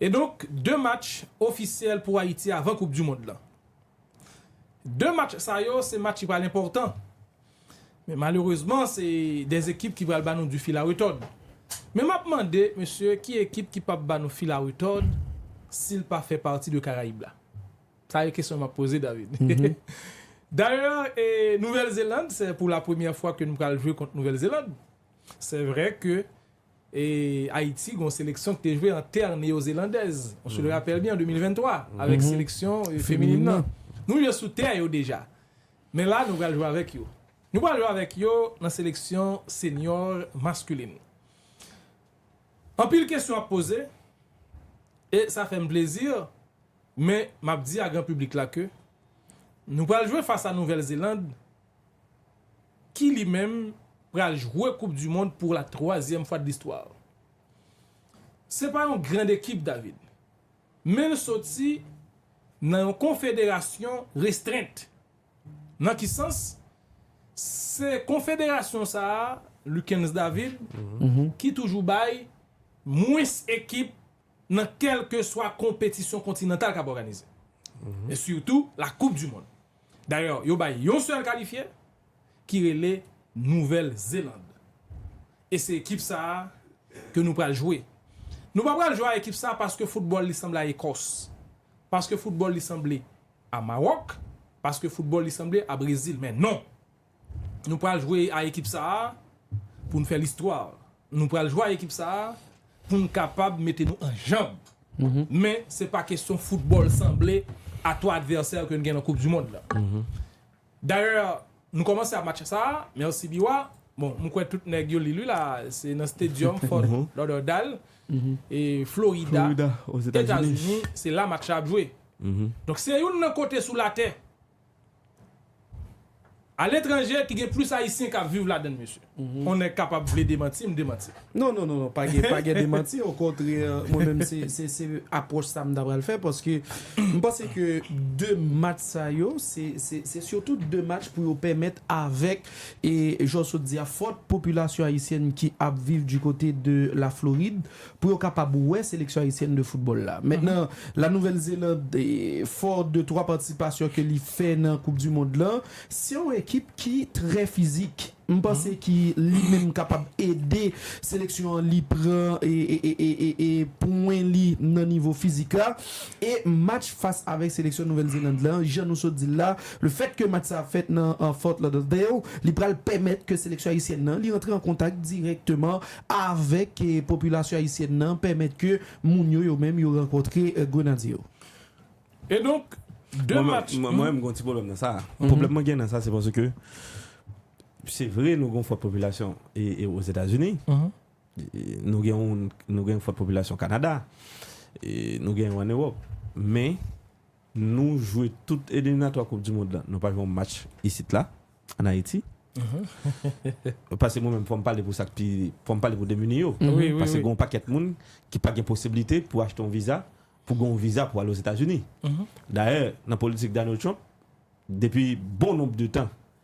E donk 2 match ofisyèl pou Ayiti avan koup du mond lan. 2 match sa yo se match ki pral enpòtan. Men malerezman se 2 ekip ki pral ba nou du fil a retòd. Men map mande mesye ki ekip ki pap ba nou fil a retòd sil pa fè pati de Karayib la. Sa e kesyon map poze David. Dayè e Nouvèl Zeland se pou la premyè fwa ke nou pral jwe kont Nouvèl Zeland. Se vre ke E Ayiti gen yon seleksyon ki te jwe an tè neyozelandèz, on se le rappelle bien, an 2023, avèk seleksyon feminin nan. Nou jwe sou tè yo deja. Men la nou pral jwe avèk yo. Nou pral jwe avèk yo nan seleksyon senior masculin. Anpil kesyon ap poze, e sa fè m plezi, men m ap di a gran piblik la ke nou pral jwe fas a Nouvèl Zeland, ki li menm pral jwe koup du mond pou la twazyèm fwa de listwa. Se pa yon grand ekip David, men l soti nan yon konfederasyon restrent. Nan ki sans? Se konfederasyon sa a, Lucens David, ki toujou bay mwens ekip nan kèlkeswa konpetisyon kontinantal k ap òganize, e sitou la koup du mond. Dayè yo bay yon sèl kalifye ki rele Nouvèl Zeland. E se ekip sa a ke nou pral jwe. Nou pa pral jwe a ekip sa paske foutbòl li sanble a Ekòs. Paske foutbòl li sanble a Mawòk. Paske foutbòl li sanble a Brezil. Men non! Nou pral jwe a ekip sa a pou n fè listwa. Nou pral jwe a ekip sa a pou n kapab mete nou an janb. Men, se pa kesyon foutbòl sanble a twa advèsè ke n gen nan koup di mond la. Dayè, nou kòmanse a match sa a, mèsi Biwa. Bon, m kwè tout nèg yo li l wi la a, se nan Stadium Fort Lauderdale, Florida, Etazini, se la match la ap jwe. Donk, se youn nan kote sou latè. A letranje ki gen plis ayisyen kap viv ladann mesye. On nèg kapab vle demantim, demantim. Non non non pa gen pa gen demanti okontrè mwen menm se se se apwòch sa m ta pral fè paske m panse ke 2 match sa yo se se se sitou 2 match pou yo pèmèt avèk e jan w sot di a fòt popilasyon ayisyèn ki ap viv di kote de la Florid pou yo kapab wè seleksyon ayisyèn de foutbòl la. Mentnan, La Nouvèl Zeland, fò de twa patisipasyon ke li fè nan koup di mond lan, se yon ekip ki trè fizik. M panse ki li menm kapab ede seleksyon an li pran pwen li nan nivo fizik la. E match fas avèk seleksyon Nouvèl Zeland la, jan nou sot di l la, le fèt ke match sa ap fèt nan Fort Lauderdale, li pral pèmèt ke seleksyon ayisyèn nan li antre an kontak dirèkteman avèk popilasyon ayisyèn nan pèmèt ke moun yo yo menm yo rankontre Grenadye yo. E donk, 2 match. Mwen menm m gen yon ti pwoblèm nan sa. Pwoblèm mwen gen nan sa se paske se vre nou gen yon fòt popilasyon Ozetazini, nou gen yon fòt popilasyon Kanada, nou gen yo an Ewòp men, Nou jwe tout eliminatwa koup dimond la nou pa jwe yon match isit la an Ayiti pase mwen menm fò m pale pou sa k pi fò m pale pou demini yo pase gen yon pakèt moun ki pa gen posiblite pou achte yon viza pou gen yon viza pou ale Ozetazini dayè nan politik Donald Trump depi bon nonb de tan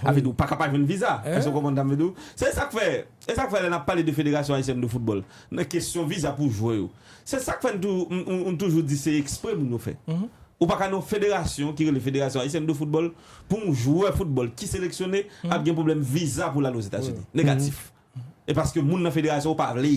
Sa vle di ou pa ka pa jwenn viza. Èske w konprann sa m vle di w? Se sa k fè, e sa k fè lè n ap pale de Federasyon Ayisyèn de Foutbòl, nan kesyon viza pou jwè yo, se sa k fè nou toujou di se ekspre moun yo fè. Ou pa ka nan yon federasyon ki rele Federasyon Ayisyèn de Foutbòl pou yon jwè foutbòl ki seleksyone ap gen pwoblèm viza pou l al Ozetazini. Negatif. E paske moun nan federasyon ou pa vle.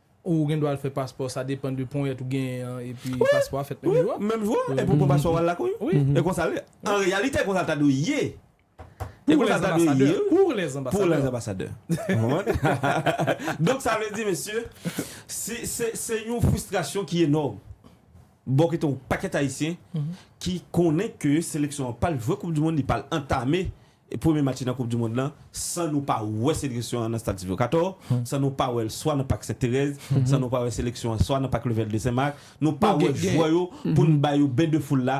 Ou gen dwa al fè paspò, sa depan de ponyèt ou genyen an epi paspò a fèt menm jou a. Menm jou a, epi ou pran paspò ou al lakou yo. E konsa l ye. An reyalite konsa l ta dwe ye. E konsa l ta dwe ye wi. Pour les ambassadeurs. Pour les ambassadeurs. Ou konprann? Donk sa vle di mesye, se yon fristrasyon ki enòm. Bò kote yon pakèt ayisyen ki konnen ke seleksyon an pral jwe koup di mond, li pral antame premye match li nan koup di mond lan san nou pa wè seleksyon an nan stad Sylvio Cator, san nou pa wèl swa nan pak Sent Terèz, san nou pa wè seleksyon an swa nan pak Levèl de Sen Mak, nou pa wè jwè yo poun ba yo ben de foul la.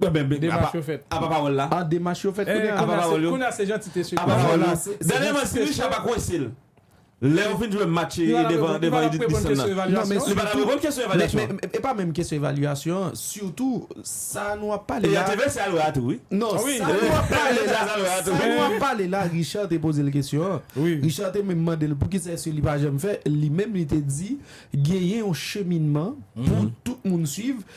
Demach yo fèt. Apa pawòl la. Ah demach yo fèt kounya. Apa pawòl yo. Kounya se jantite sèlman. Apa pawòl yo. Dènyèman si Richard pa kwense l. Lè yo fin jwe match devan Edith Bisson nan. Non men sitou. Li pa tap reponn kesyon evalyasyon an. Men e pa menm kesyon evalyasyon an. Sitou sa nou ap pale la. E ya te vèse alwè a tou wi. Non sa nou ap pale la. Sa nou ap pale la Richard te poze l kesyon an. Richard te menm mande l poukisa èske li pa janm fè. Li menm li te di genyen yon cheminman pou tout moun swiv.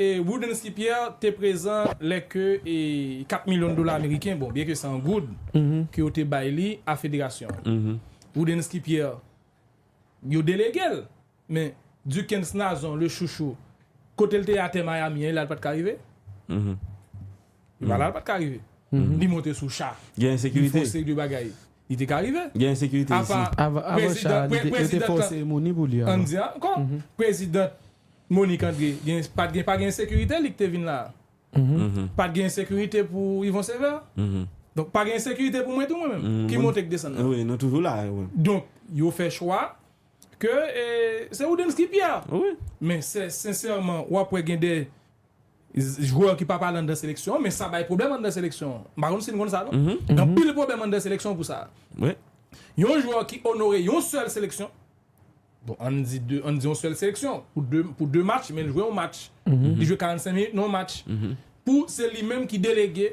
E Woodensky Pierre te prezan lè ke 4 milyon dola ameriken, bon byen ke se an goud, ke yo te bay li a federasyon an. Woodensky Pierre, yo delege l, men Duckens Nazon, le chouchou, kote l te ye atè Miami an, il al pat ka rive. Valal pat ka rive. Li monte sou cha. Gen ensekirite. Li fose de bagay. Li te ka rive. Gen ensekirite isi. Apa prezidant. Yo te fose Monique pou li avan. Ann di ankò. Prezidant Monique André pat gen pa gen ensekirite li ki te vin la a. Pat gen ensekirite pou Yvon Sévère. Donk pa gen ensekirite pou mwen tou mwen menm. Ki monte ki desann nan. Wi nou toujou la. Donk yo fè chwa ke se Roodensky Pierre. Wi. Men sensèman wap wè gen de. jwè ki pa pale anndan seleksyon an men sa bay pwoblèm anndan seleksyon an m pa konn si n konn sa non gen anpil pwoblèm anndan seleksyon an pou sa yon jwè ki onore yon sèl seleksyon bon ann di de ann di yon sèl seleksyon pou de pou de match men l jwe yon match li jwe 45 minit nan yon match pou se li menm ki delege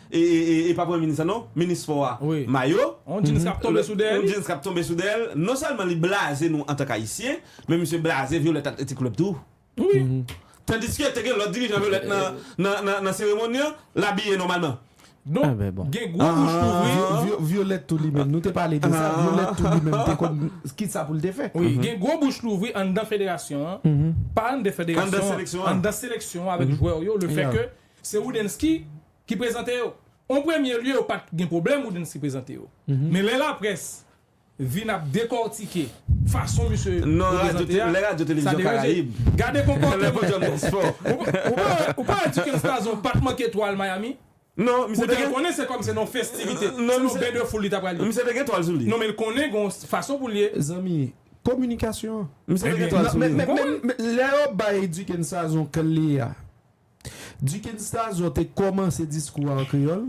E pa premye minis la non, minis spò a, mayo, yon djins kap tonbe sou dèyè li, yon djins kap tonbe sou dèyè l, non sèlman li blaze nou antank ayisyen, men misye blaze Violette ak Petit Club tou wi, tandiske te gen lòt dirijan Violette nan seremoni an, l abiye nòmalman. Donk gen gwo bouch k ouvri. Violette tou li menm, nou te pale de sa, Violette tou li menm te konn kisa pou l te fè. Wi, gen gwo bouch k louvri anndan federasyon an, pa anndan federasyon an, anndan seleksyon an avèk jwè yo, lefèke Se Roudensky ki prezante yo. On premye lye yo pa t gen pwoblèm Roudensky prezante yo. Men lè laprès vin ap dekòtike fason misye reprezante a, sa deranje. Gade konpòteman. Ou pa wè Duckens Tazon pa t manke twal Miami? Poutèt l konnen se kòm se nan yon festivite, se nan yon bendefoul li ta pral ye. Non men l konnen gen yon fason pou l ye. Zanmi, kominikasyon. Misye te gen twal sou li. Men lè yo bay Duckens Tazon kle a. Duken Stazon te kòmanse diskou a an kreyòl,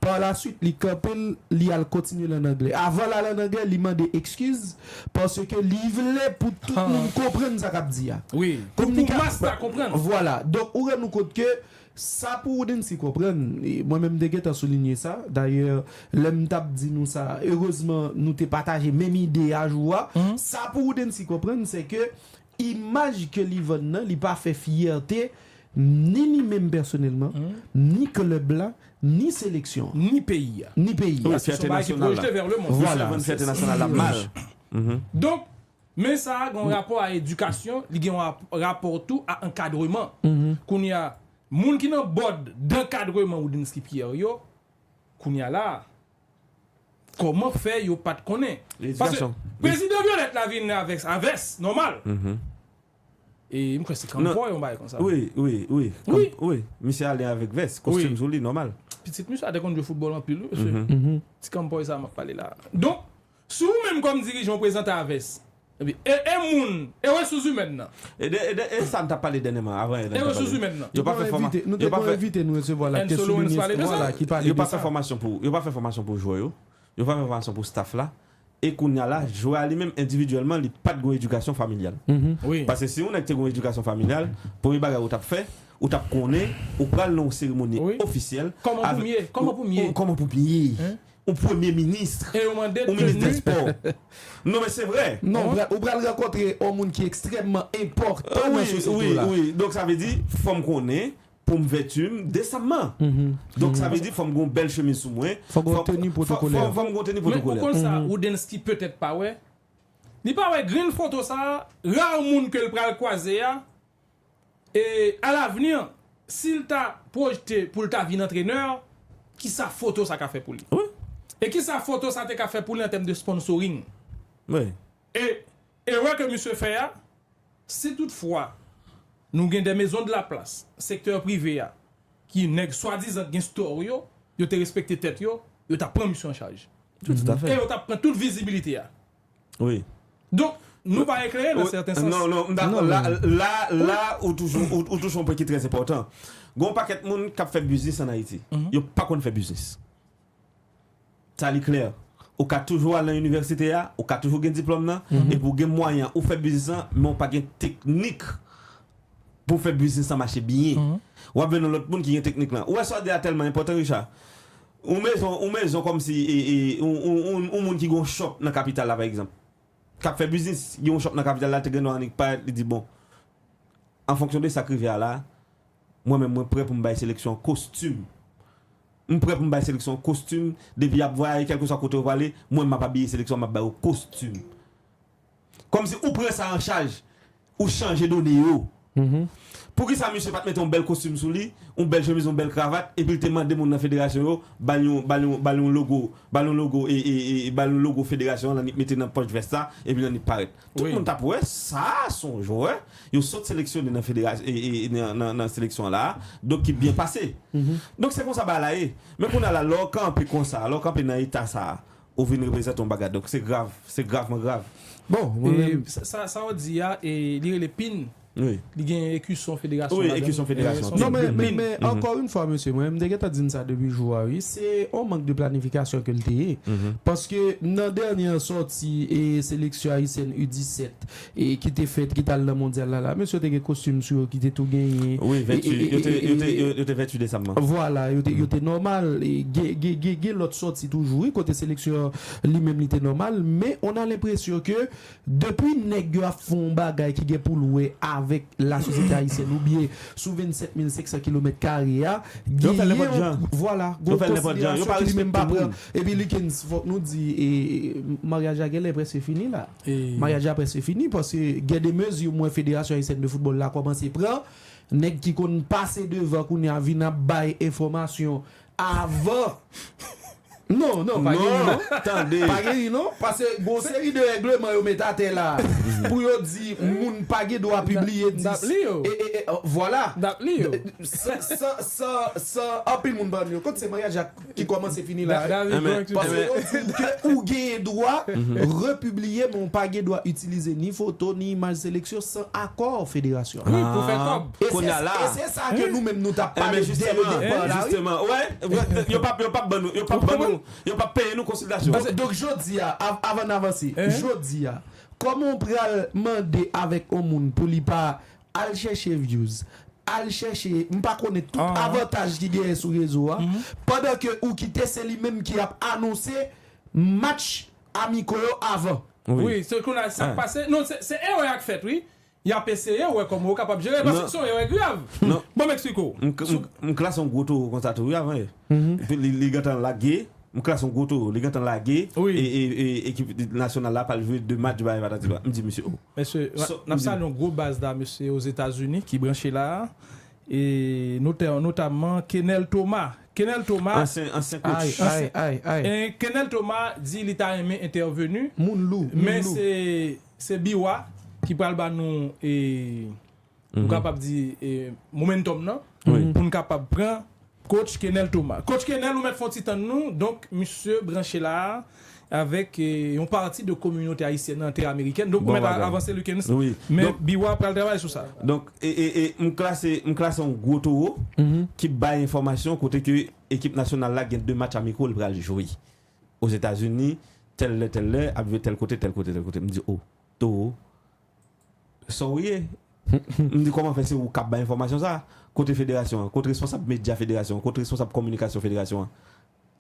parlaswit li kanpe l, li al kontinye l ann angle. Avan l al ann angle, li mande ekskiz paske li vle pou tout moun konprann sa k ap di a. Wi, pou pou mas la konprann. Vwala. Donk, ou rann ou kont ke sa pou ou Nancy konprann, e mwen menm m te gentan soulinye sa, dayè lè m t ap di nou sa, erezman nou te pataje menm ide a jou a, sa pou ou Nancy konprann se ke Imaj ke li vann nan, li pa fè fyète ni li menm pèsonèlman, ni klèb la, ni seleksyon an. Ni peyi a. Ni peyi a. Se son bagay ki pwojete vè lemonn. Vwala. Misye vann fyète nasyonal la mal. Donk, men sa a gen yon rapò a edikasyon, li gen yon rapò tou a ankadreman. Kounye a, moun ki nan bòd dankadreman Roudensky Pierre yo, kounye a la a, Koman fè yo pat konnen. Paske prezidan violette la vin avès a vès nòmal e m kwè se kanpò yon bagay konsa. Wi wi wi misye ale avèk vès kostim sou li nòmal. Pitit misye a te konn jwe foutbòl anpil wi mesye. Ti kanpòy sa map pale la. Donk Si ou menm kòm dirijan ou prezante avès e e moun e resous imèn nan. E de e de e sa n t ap pale dènyèman avan Ernst te pale de Nou te gen yon envite nou te gen yon envite nou resevwa la ki te soulinye sa la ki pale de sa. Yo pa fè fòmasyon pou yo pa fè fòmasyon pou jwè yo yo pa fè fòmasyon pou staff la e kounya la jwè a li menm endividyèlman li pa t gen yon edikasyon familyal paske si yon nèg te gen yon edikasyon familyal premye bagay ou t ap fè ou t ap konnen ou pral nan yon seremoni ofisyèl kòman pou m ye kòman pou m ye kòman pou m ye Ou premye ministre. E yo mande ou minis dè spò. Non men se vre. Non ou pral rankontre on moun ki ekstrèmman enpòtan nan sosyete w la. Wi wi wi donk sa vle di fò m konnen pou m vèti m desamman. Donk sa vle di fò m gen on bèl chemiz sou mwen. Fò gen on teni pwotokolè. Fò m gen on teni pwotokolè. Men ou konn sa Roudensky petèt pa wè? Li pa wè grenn foto sa a, rare moun ke l pral kwaze a E a lavni, si l ta pwojte pou l ta vin antrenè, ki sa foto sa ka fè pou li? E ki sa foto sa te ka fè pou li an tèm de sponsoring? E erè ke misye fè a, si tout fwa nou gen des maisons de la place, sektè prive a, ki nèg swadizan k gen store yo, yo te respekte tèt yo, yo ta pran misye an chaj. E yo ta pran tout vizibilite a. Wi. Donk, nou pa eklere nan sèten sans. Non, non, m dakò. La, la, la ou touche, ou touche yon pwen ki trè enpòtan. Gen yon pakèt moun k ap fè biznis ann Ayiti. Yo pa konn fè biznis. Sa li klè. Ou ka toujou al nan inivèsite a, ou ka toujou gen diplòm nan, epi ou gen mwayen ou fè biznis lan, men ou pa gen teknik pou w fè biznis lan mache byen. W ap jwenn yon lòt moun ki gen teknik lan. Ou wè sa w di a tèlman enpòtan, Richard. Yon mezon, yon mezon kòmsi yon moun ki gen yon shop nan kapital la pa egzanp, k ap fè biznis, gen yon shop nan kapital la, l te gen dwa annik parèt li di bon, an fonksyon de sa k rive a la, mwen menm mwen prè pou m bay seleksyon an kostim, m prè pou m bay seleksyon an kostim, depi y ap vwayaje kèlkeswa kote yo prale, mwen m ap abiye seleksyon an, m ap ba yo kostim. Kòmsi ou pran sa an chaj, ou chanje done yo. Poukisa misye pa t mete yon bèl kostim sou li, yon bèl chemiz, yon bèl kravat, epi l te mande moun nan federasyon yo ba l yon, ba l yon, ba l yon logo, ba l yon logo e, e, e, ba l yon logo federasyon an nan li t mete nan pòch vès la epi nan li t parèt. Tout moun t ap wè sa a s on jwè yo sot seleksyone nan federas, e, e, e, nan, nan, nan seleksyon an la a, donk ki byen pase. Donk se konsa bagay la ye. Men kounye a la, lè w kanpe konsa, lè w kanpe nan eta sa a, Ou vin reprezante yon bagay donk se grav, se gravman grav. Bon, mwen menm. E sa ou di a, li rele pin? Wi. Li gen ekison federasyon ladan? Wi, ekison federasyon. Non men, men, men, ankò yon fwa mesye, mwen menm te gentan di n sa depi jou a wi, se yon mank de planifikasyon ke l te ye. Paske nan dènye sòti seleksyon ayisyèn U 17, ki te fèt, ki t al nan mondyal la la. Mesye yo te gen kostim sou yo ki te tou genyen. Wi, 28, yo te, yo te, yo te 28 desanm nan. Vwala, yo te, yo te nòmal. Gen, gen, gen, gen lòt sòti toujou wi, kote seleksyon an li menm li te nòmal. Men, on a lenpresyon ke depi nèg yo ap fè on bagay ki gen pou l wè avèk lasosyete ayisyèn oubyen sou 27 mil 500 kilomèt kare a, Yo fè l genyen nenpòt on, jan. vwala, gen Yo on fè l nenpòt jan. Yo konsiderasyon pa ki li menm pa respekte pran. moun. Epi Likens, fòk nou di, e, maryaj la genlè prèske fini la. Maryaj la prèske fini paske gen de mezi m wè Federasyon Ayisyèn de Foutbòl la kòmanse pran. Nèg ki konn pase devan kounye a vin ap bay enfòmasyon avan. Non, non, pa gen ri non. Pa gen ri non. Paske gon seri de règleman yo met atè la a pou yo di moun pa gen dwa pibliye 10. N ap li yo. Vwala. N ap li yo. San anpil moun pa rann yo kont se maryaj la. ki kòmanse fini la wi. Paske yo di w ke ou genyen dwa repibliye men w pa gen dwa itilize ni foto ni imaj seleksyon san akò federasyon an. Wi pou fè kòb. E se sa ke nou menm nou tap pale dè le depa la wi. Yo pap yo pap ban nou yo pap ban nou yo pap peye nou konsiltasyon. Ok donk jodi a avan n avanse jodi a kòman w pral mande avèk yon moun pou li pa Al chèche views, al chèche m pa konnen tout avantaj ki genyen sou rezo a, pandan ke ou kite se li menm ki ap anonse match amiko yo avan. Wi, se kounye a sa k pase. Non, se erè a k fèt wi. Y ap eseye wè kòman yo kapab jere l, paske se yon erè grav. Bon m eksplike w. M klase yon gwo towo konsa tou wi avan e. Epi li gentan lage, m klase yon gwo towo, li gentan lage ekip nasyonal la pa l jwe 2 match bagay patati patata. M di misye o. Mesye, n ap salye yon gwo baz la mesye Ozetazini ki branche la a. E notè notamman Kenel Thomas. Kenel Thomas, Ansyen kotch. Ay, ay, ay. Kenel Thomas di li ta renmen entèvenu. Moun lou, moun lou. Men se Biwa ki pral ba nou e. Ou kapab di momentum nan pou n kapab pran coach Kenel Thomas. Coach Kenel ou mèt fon ti tann nou, donk misye branche la a avèk yon pati de kominote ayisyèn nan tè amerikèn, donk ou mèt avanse Lukens, men biwa pral travay sou sa. Donk m klase m klase yon gwo towo ki bay enfòmasyon kote ke ekip nasyonal la gen 2 match amiko l pral jwe Ozetazini tèl lè tèl lè ap jwe tèl kote tèl kote tèl kote m di o towo Sa w ye? M di kòman fè se ou k ap bay enfòmasyon sa a? Kote federasyon an? Kot responsab medya federasyon an? Kot responsab kominikasyon federasyon an?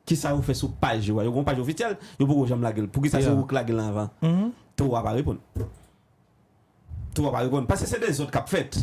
Kisa yo fè sou paj yo a? Yo gen yon paj ofisyèl, yo poko janm lage l. Poukisa se ou k lage l anvan? Toro a pa reponn. Toro a pa reponn. Paske se dezòd k ap fèt.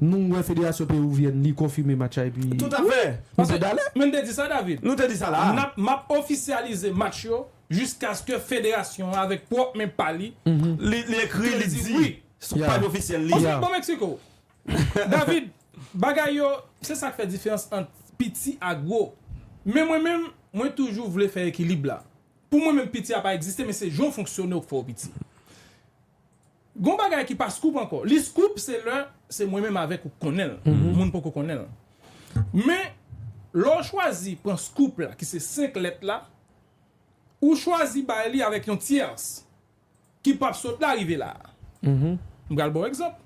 Nou wè federasyon peruvienne li konfime match la epi Tout afè! Nou te dale! Men te di sa David. Nou te di sa la a. Nap map ofisyalize match yo jiskaske federasyon an avèk pwòp men pa li Li li ekri, li di wi. Sou paj ofisyèl li. Oswald bon Mexico! David, bagay yo, se sak fè diferans ant piti a gwo. Men mwen menm, mwen toujou vle fè ekilib la. Pou mwen menm piti a pa egziste men se jan w fonksyone w k fè w piti. Gon bagay ki pa scoop ankò. Li scoop se lè se mwen menm avèk ou k konnen l, moun poko konnen l. Men, lè w chwazi pran scoop la ki se 5 lèt la, ou chwazi bay li avèk yon tyèrs ki pap sot la rive la a. M pral ba w egzanp.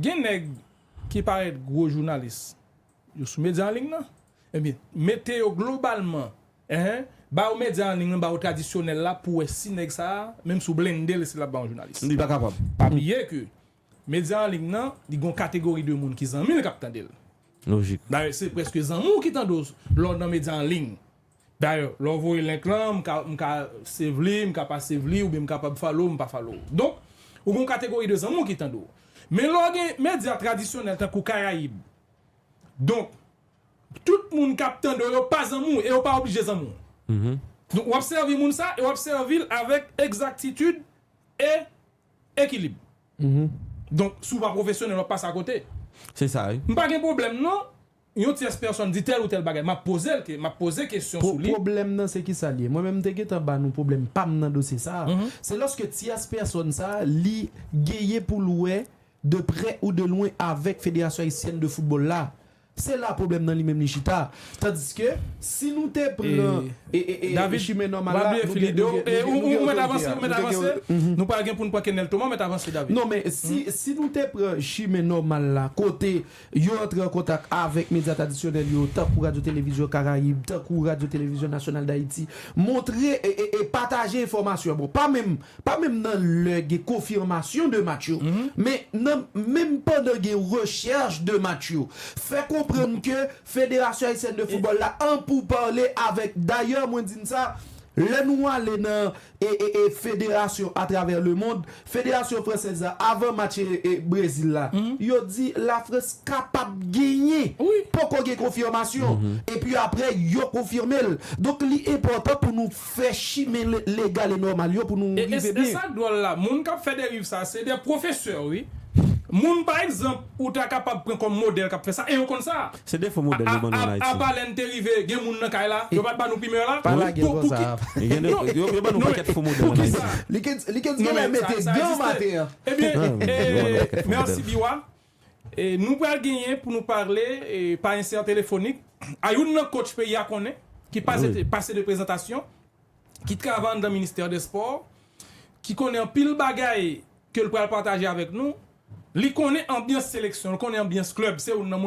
Gen nèg ki parèt gwo jounalis, yo sou medya anlign nan, ebyen mete yo globalman Enh ba ou medya an ligne lan ba ou tradisyonèl la pou wè si nèg sa menm si ou blendel esi lap ba ou jounalis. Li pa kapab. Pa bliye ke medya an ligne lan li gon kategori de moun ki zanmil kap tandel. Lojik. Dayè se preske zanmi ou ki tande w lè w nan medya an ligne. Dayè lè w voye link lan m ka m ka save li m ka pa save li oubyen m kapab follow ou m pa follow ou. Donk ou gon kategori de zanmi w ki tande w. Men lè w gen medya tradisyonèl tankou Karayib donk Tout moun kap tande w yo pa zanmi w e yo pa oblije zanmi w. Donk wap sèvi moun sa e wap sèvi l avèk egzaktitid e ekilib. Donk si w pa pwofesyonèl wap pase akote. Se sa wi. M pa gen pwoblèm non yon tyès pèsòn di tèl ou tèl bagay. Map poze l ke, map poze kesyon sou li. Pwoblèm nan se kisa li ye? Mwen menm m te gentan ba nou pwoblèm pa m nan dosye sa a. Se lòske tyès pèsòn sa a li genyen pou l wè de prè ou de lwen avèk Federasyon Ayisyèn de Foutbòl la. Se la pwoblèm nan li menm li chita. Tandiske, si nou te pran chimen nòmal la, nou gen otorite a. Ou mèt avanse, ou mèt avanse. Nou pral gen pou nou pran Kenel Thomas, ou mèt avanse David. Non men, si nou te pran chimen nòmal la, kote yo antre an kontak avèk medya tradisyonèl yo, tankou Radyo Televizyon Karayib, tankou Radyo Televizyon Nasyonal Dayiti, montre e pataje enfòmasyon. Bon, pa menm pa menm nan lè gen konfimasyon de match yo, men nan menm pandan gen rechèch de match yo, fè konprann ke Federasyon Ayisyèn de Foutbòl la an pouparle avèk, dayè mwen di n sa, lè nou ale nan federasyon atravè lemond, Federasyon Fransèz la avan match Brezil la, yo di Lafrans kapab genyen, poko gen konfimasyon, epi aprè yo konfime l. Donk li enpòtan pou nou. Fè chimen legal e nòmal yo pou nou rive byen. E sa k dwòl la, moun k ap fè deriv sa a se de pwofesè wi. Moun pa egzanp ou ta kapab pran kòm modèl k ap fè sa e yo konn sa. Se defo modèl yo ban nou ann Ayiti. Apa lè n te rive gen moun nan kay la, yo pa t ban nou primè la? Pa lage l konsa a. Yo ban nou pakèt fo modèl ann Ayiti. Li k gen lè mete gan maten an. Ebyen, mèsi Biwa. Nou pral genyen pou nou pale pa ensè telefonik a youn nan kotch peyi a konnen ki pase de prezantasyon, ki travay anndan ministè dè spò, ki konnen anpil bagay ke l pral pataje avèk nou. Li konnen anbyans seleksyon, li konnen anbyans klèb. Se youn nan moun.